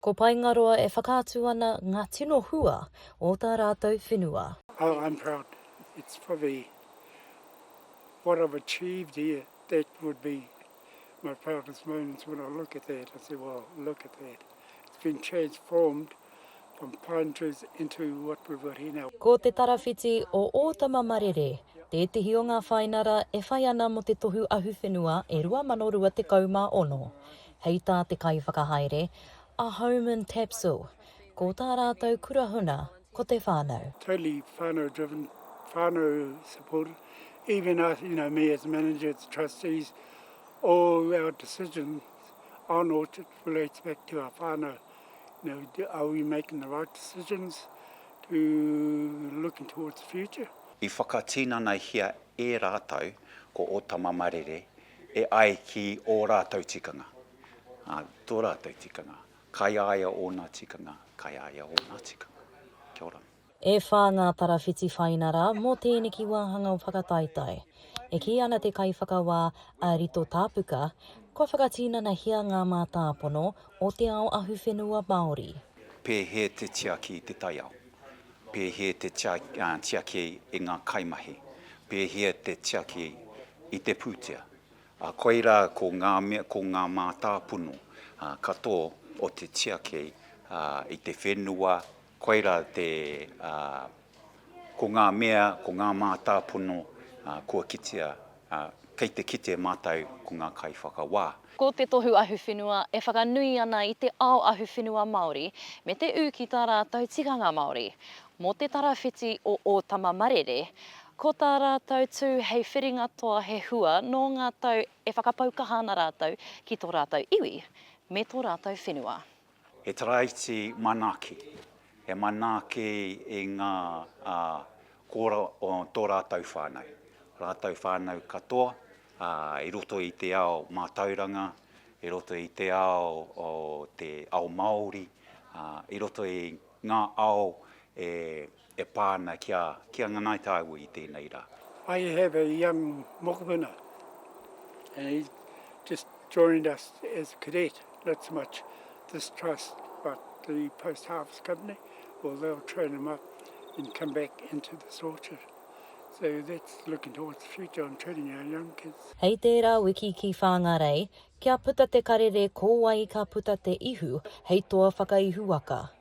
Ko Paengaroa e whakaatu ana ngā tino hua o tā rātou whenua. Oh I'm proud it's probably what I've achieved here that would be my proudest moments when I look at that I say well look at that it's been transformed from pine trees into what we've got here now. Ko Te Tarawhiti o Ōtama Marere tētehi o ngā whainara e whai ana mō te Tohu Ahuwhenua e 2026. Hei tā te kaiwhakahaere a Home and Tapsell, ko tā rātou kura huna ko te whānau. Totally whānau driven, whānau supported, even us, you know, me as manager, the trustees, all our decisions on Orchard relates back to our whānau. You know, are we making the right decisions to looking towards the future? I whakatinanahia e rātou ko Ōtama Marere e ai ki ō rātou tikanga, ā, tō rātou tikanga, kai a ia ōna tikanga, kai a ia ōna tikanga. Kia ora. E whā ngā tarawhiti whaina rā mō tēneki wāhanga o Whakataetae. E kī ana te Kaiwhakawā a Rito Tāpuka, kua whakatinanahia ngā mātāpono o te ao ahuwhenua Māori. Pēhea te tiaki i te taiao? Pēhea te tiaki i ngā kaimahi? Pēhea te tiaki i te pūtea? Koirā ko ngā mea, ko ngā mātāpono katoa o te tiaki i te whenua, koirā te, ko ngā mea, ko ngā mātāpono kua kitea Ā, kei te kite mātou ko ngā kaiwhakawā. Ko te tohu ahuwhenua e whakanui ana i te ao ahuwhenua Māori me te ū ki tā rātou tikanga Māori. Mō te tarawhiti o Ōtama Marere, ko tā rātou tū hei whiringa toa he hua nō ngā tau e whakapau kaha ana rātou ki tō rātou iwi me tō rātou whenua. He taraiti manaaki, he manaaki i ngā kora o tō rātou whānau, rātou whānau katoa i roto i te ao mātauranga, i roto i te ao o te ao Māori, i roto i ngā ao e e pā ana ki a, ki a Ngāi Tāua i tēnei rā. I have a young mokopuna and he just joined us as a cadet, not so much this trust but the post harvest company or they'll train him up and come back into this orchard. So that's looking towards the future on training our young kids. Hei tērā wiki ki Whāngarei, kia puta te karere ko wai ka puta te ihu hei toa whakaihuwaka.